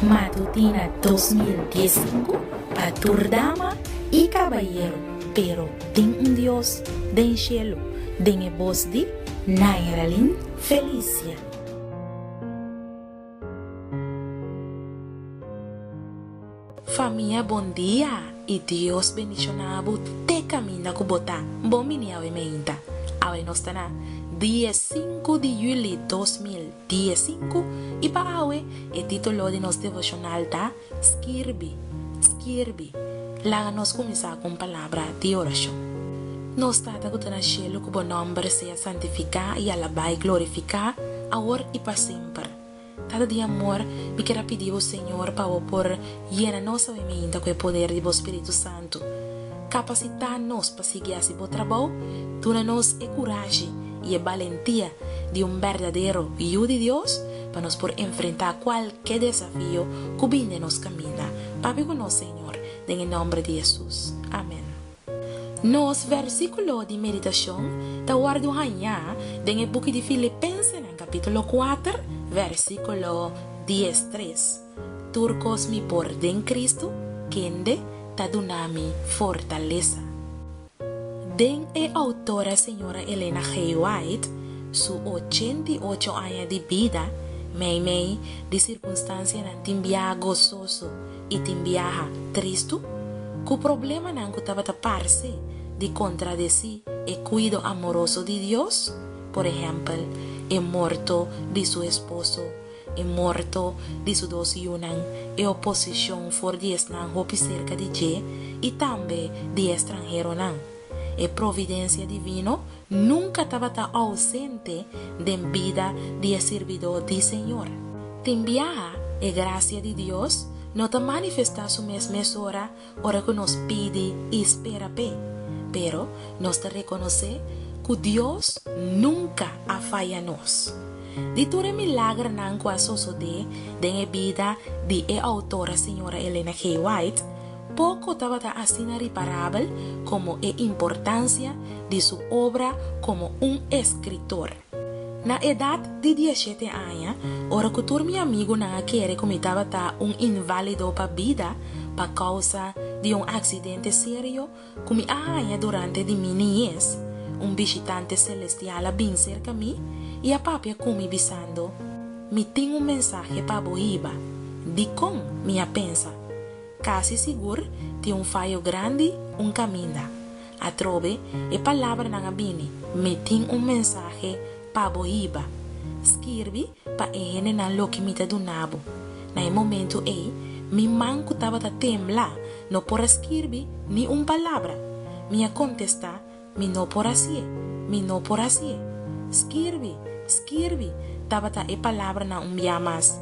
Matutina dos mil dies i sinku pa tur dama i kabayeru pero tin un Dios den shelu den e bos di Nairalyn Felicia. Famia bon dia y Dios bendiciona bo te caminda cu bo ta bon bini awe meinta. Awe nos ta na die sinku di juli dos mil die sinku y pa awe e titulo di nos devocional ta Skirbi, Skirbi, laga nos cuminsa cu un palabra di oracion. Nos Tata cu ta na cielo cu bo nomber sea santifica y alaba y glorifica awor y pa semper. Ata di amor, mi ker a pidi bo, Señor, pa bo por yena nos awe mainta ku e poder di bo Spiritu Santu. Kapasitá nos pa sigui hasi bo trabou, duna nos e kurashi i e balentia di un berdadero Yu di Dios pa nos por enfrentá kualke desafio ku bini den nos kaminda. Papia ku nos, Señor, den e nòmber di Hesus. Amèn. Nos versíkulo di meditashon ta wòrdu hañá den e buki di Filipensenan kapítulo kuater, versíkulo dies tres, Tur kos mi por den Kristu kende ta duna mi fortalesa. Den e outora señora Elena G. White su ochenta i ocho aña di bida, meimei di sirkunstansianan tin biaha gososo, i tin biaha tristu ku problemanan ku tabata parse di kontradecí e kuido amoroso di Dios, por ehèmpel, e morto di su esposo, e morto di su dos yunan, e oposishon for di esnan hopi serka di dje i tambe di e estranheronan. E providensia divino Nunka tabata ousente den bida di e sirbidó di Señor. Tin biaha e grasia di Dios no ta manifestá su mes mesora ora ku nos pidi i spera p'e. Pero nos ta rekonosé ku Dios nunka a faya nos. Di tur e milagernan ku a sosodé den e bida di e outora señora Elena K. White, Poko tabata asina riparabel komo e importansia di su obra komo un eskritor. Na edat di dieshete aña, ora ku tur mi amigunan a kere ku mi tabata un inválido pa bida pa kousa di un aksidente serio ku mi a haña durante di mi niñez, un bishitante selestial a bin serka mi i a papia ku mi bisando, Mi tin un mensahe pa bo hiba. Dikon? mi a pensa. Casi sigur tin un fayo grandi un caminda. Atrobe e palabranan a bini, Mi tin un mensahe pa bo hiba. Skirbi pa e hendenan loke mi ta duna bo. Na e momento ey, mi man cu tabata tembla no por a skirbi ni un palabra. Mi a contesta Mi no por hacié, mi no por hacié. Skirbi, skirbi, tabata e palabranan un bia mas.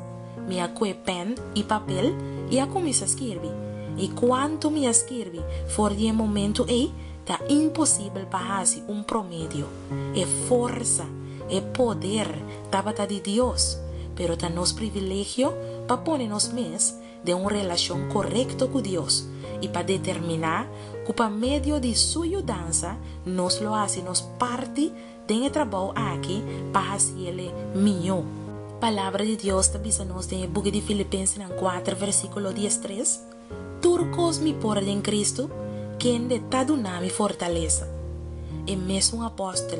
Mi a koe pen i papel i a kuminsá skirbi. I kuantu mi a skirbi for di e momentu ei ta imposibel pa hasi un promedio. E forsa, e poder tabata di Dios, pero ta nos privilegio pa pone nos mes den un relashon korekto ku Dios i pa determiná ku pa medio di su yudansa nos lo hasi nos parti den e trabou aki pa hasi el e mihó. Palabra di Dios ta bisa nos den e buki di Filipensenan kuater versíkulo dies tres, Tur kos mi por den Kristu, kende ta duna mi fortalesa. E mesun apòstel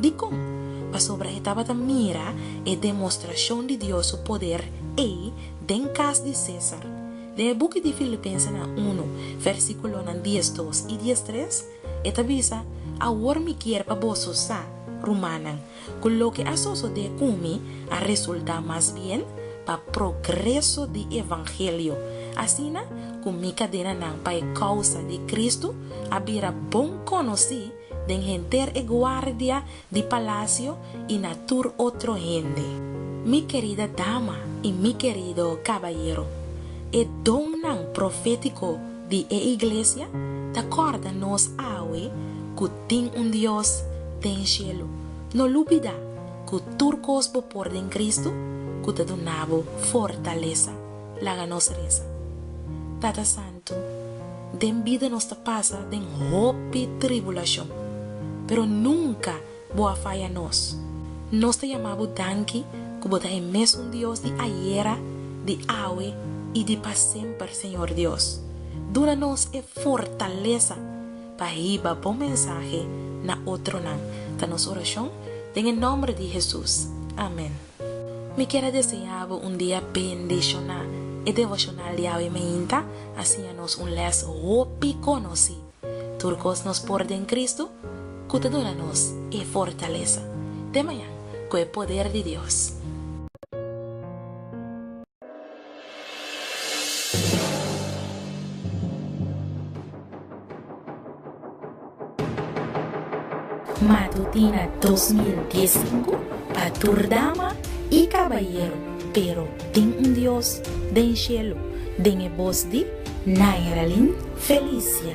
Dikon? Pasobra e tabata mira e demostrashon di Dios su poder ei den kas di César. Den e buki di Filipensenan unu, versíkulonan dies dos i dies tres, e ta bisa, Awor mi kier pa boso sa, rumannan, ku loke a sosodé ku mi a resultá mas bien pa progreso di evangelio, asina ku mi kadenanan pa e kousa di Kristu a bira bon konosí, Den henter e guardia di palasio i na tur otro hende. Mi kerida dama i mi kerido kabayero, e donnan profétiko di e iglesia ta kòrda nos awe ku tin un Dios den shelu. No lubidá ku tur kos bo por den Kristu ku ta duna bo fortalesa. Laga nos resa, Tata Santu. Asuntu den bida nos ta pasa den hopi tribulashon, pero nunka bo a faya nos. Nos ta yama bo danki ku bo ta e mesun Dios di ayera, di awe i di pa semper, Señor Dios. Duna nos e fortalesa pa hiba bo mensahe na otronan, ta nos orashon den e nòmber di Hesus. Amen. Mi kier a deseá bo un dia bendishoná. E devoshonal di awe mainta a siña nos un lès hopi konosí, Tur kos nos por den Kristu ku ta duna nos e fortalesa. Te mañan ku e poder di Dios. Matutina dos mil dies i sinku pa tur dama i kabayero pero tin un Dios den shelu den e bos di Nairalyn Felicia.